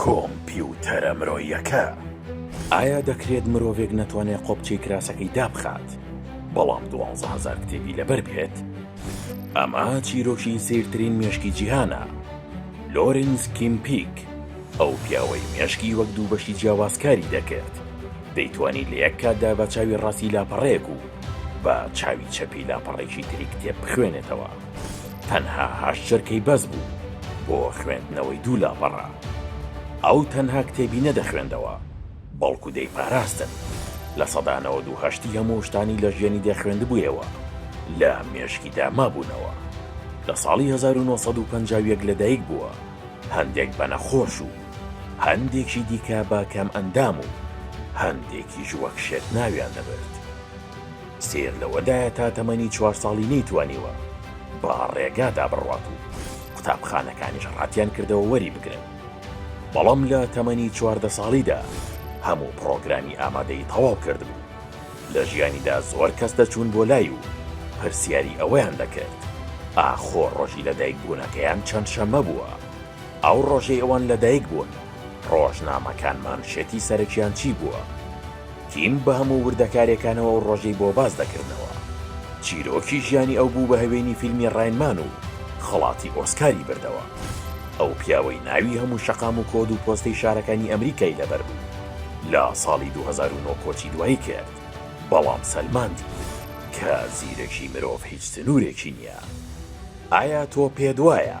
کۆمپیوتەرە مرۆیەکە. ئایا دەکرێت مرۆڤێک نەتوانێت قۆپچەی کراسەکەی دابخات، بەڵام دوانزە هەزار کتێبی لەبەر بێت؟ ئەمە چیرۆکی سەیرترین مێشکی جیهانە. لۆرینز کیمپیک، ئەو پیاوەی مێشکی وەک دوو بەشی جیاواز کاری دەکرد، دەیتوانی لە یەک کاتدا بە چاوی ڕاستی لاپەڕەیەک و بە چاوی چەپی لاپەڕەیەکی تری کتێب بخوێنێتەوە. تەنها هەشت چرکەی بەس بوو بۆ خوێندنەوەی دوو لاپەڕە. ئەو تەنها کتێبی نەدەخوێندەوە، بەڵکو دەیپاراستن. لە سەدا نەوەد و هەشتی هەموو شتانی لە ژیانی دەخوێندبوویەوە، لە مێشکیدا مابوونەوە. لە ساڵی هەزار و نۆ سەد و پەنجا و یەک لەدایک بووە، هەندێک بە نەخۆش و هەندێکی دیکە بە کەمئەندام و هەندێکیش وەک شێت ناویان دەبرد. سەیر لەوەدایە تا تەمەنی چوار ساڵی نەیتوانیوە بە ڕێگادا بڕوات و قوتابخانەکانیش ڕەتیانکردەوە وەریبگرن، بەڵام لە تەمەنی چواردە ساڵیدا هەموو پڕۆگرامی ئامادەیی تەواو کردبوو، لە ژیانیدا زۆر کەس دەچوون بۆ لای و پرسیاری ئەوەیان دەکرد ئاخۆ ڕۆژی لەدایکبوونەکەیان چەند شەممە بووە؟ ئەو ڕۆژەی ئەوان لەدایکبوون، ڕۆژنامەکان مانشێتی سەرەکیان چی بووە؟ کیم بە هەموو وردەکارییەکانەوە ئەو ڕۆژەی بۆ باس دەکردنەوە. چیرۆکی ژیانی ئەو بوو بە هەوێنی فیلمی ڕاین مان و خەڵاتی ئۆسکاری بردەوە. ئەو پیاوەی ناوی هەموو شەقام و کۆد و پۆستەی شارەکانی ئەمریکای لەبەر بوو، لە ساڵی دوو هەزار و نۆ کۆچی دوایی کرد، بەڵام سەلماندی کە زیرەکی مرۆڤ هیچ سنوورێکی نییە. ئایا تۆ پێت وایە؟